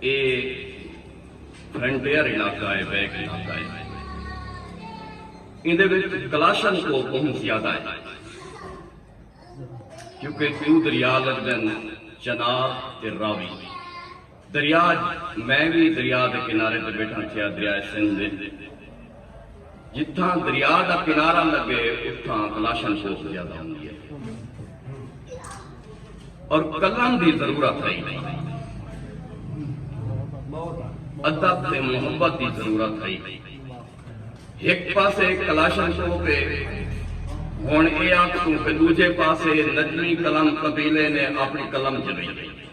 اے frontier علاقہ اے، back علاقہ اے۔ ایندے وچ کلاشن کوپ بہوں زیادہ ہن۔ کیونکہ ڈو دریا لگدن، چناب تے راوی۔ دریا میں وی دریا دے کنارے تے بیٹھاں تھیا، دریائے سندھ وچ۔ جتھاں دریا دا کنارہ لگے اتھاں کلاشن کوف زیادہ ہوندی ہے اور قلم دی ضرورت ہے ادب تے محبت دی ضرورت ہے ایک پاسے کلاشن کوف ہے ہن اے آکھ توں کہ دوجے پاسے نجمی قلم قبیلے نے اپنی قلم جلی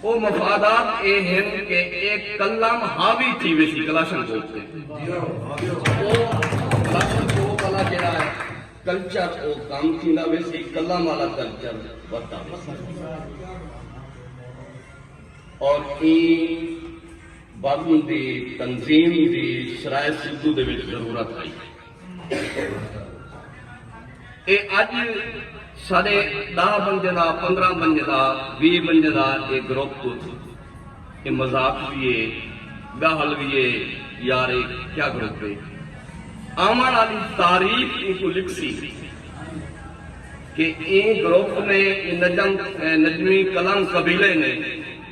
او مفادات اے ہن کہ اے کلم حاوی تھی ویسی کلاشن کوپ تے۔ او کلاشن کوپ آلا جیڑھا اے کلچر او کم تھیندا ویسی کلم آلا کلچر ودھدا ویسی۔ اور ایں بزم دی تنظیم دی سرائے سدھو دے وچ ضرورت ہئی۔ اے اج ساڈے ڈاہ بندے دا پندرہ بندے دا وی بندے دا اے گروپ اے مذاق وی اے گاہل وی اے یار اے کیا گروپ اے آون آلی تاریخ اینکوں لکھسی کہ ایں گروپ نے ایں نجم نجمی کلام قبیلے نے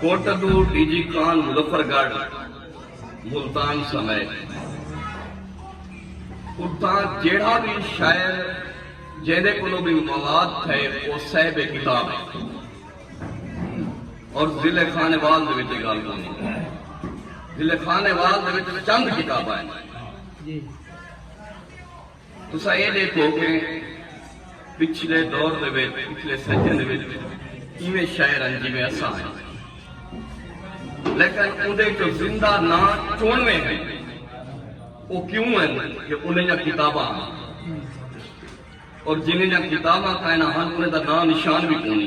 کوٹہ توں ڈی جی کان مظفر گڑھ، ملتان سمیت اتھاں جیڑھا وی شاعر جیندے کولوں وی مواد تھئے او صیب کتاب ہے اور ضلع خانوال دے وچ اے گالھ کونی ضلع خانوال دے وچ چند کتاباں ہیں۔ تساں ایہ ڈیکھو کہ پچھلے دور دے وچ پچھلے صدیاں دے وچ ایویں شاعر ہن جیویں اساں ہیں لیکن اوندے وچوں زندہ ناں چونویں ہیں او کیوں ہیں کہ انہیں جا کتاباں ہیں اور جنہیں جا کتاباں کائنا ہن انہیں دا ناں نشان بھی کونی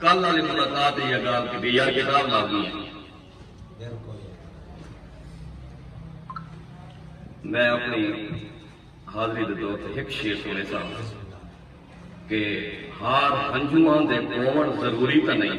کل آلی ملاقات اچ اے گالھ کیتی یار کتاب لازمی اے۔ میں اپݨی حاضری دے طور تے ہک شعر سݨیساں کہ ہار ہنجواں دے پووݨ ضروری تاں نئیں۔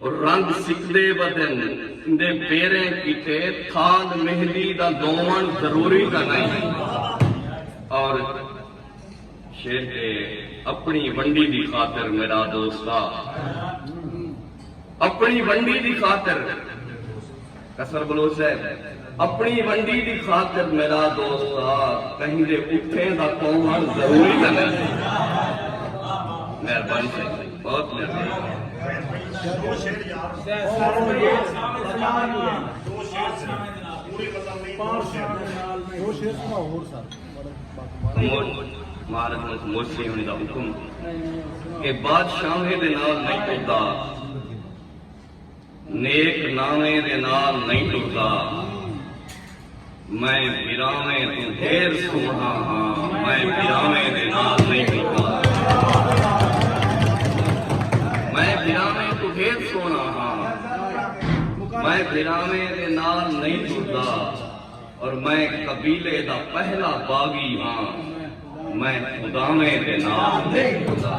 رنگ سکدے ودن دے پیریں کیتے تھاند مہندی دا دوون ضروری تاں نئیں اور شیر کے اپنی ونڈی دی خاطر میرا دوستا اپنی ونڈی دی خاطر کسر بلوچ ہے اپنی ونڈی دی خاطر میرا دوستا کہیں دے اٹھیں دا پوہن ضروری نہ ہے مہربانی سے بہت مہربانی مہارت میں موسی ہونے دا حکم کہ بادشاہ دے نال نہیں کرتا نیک ناویں دے نال نئیں ٹردا میں بھراویں توں ڈھیر سوہݨا ہاں میں بھراویں دے نال نئیں ٹردا میں بھراویں توں ڈھیر سوہݨا ہاں میں بھراویں دے نال نئیں ٹردا اور میں قبیلے دا پہلا باغی ہاں میں خداویں دے نال نئیں ٹردا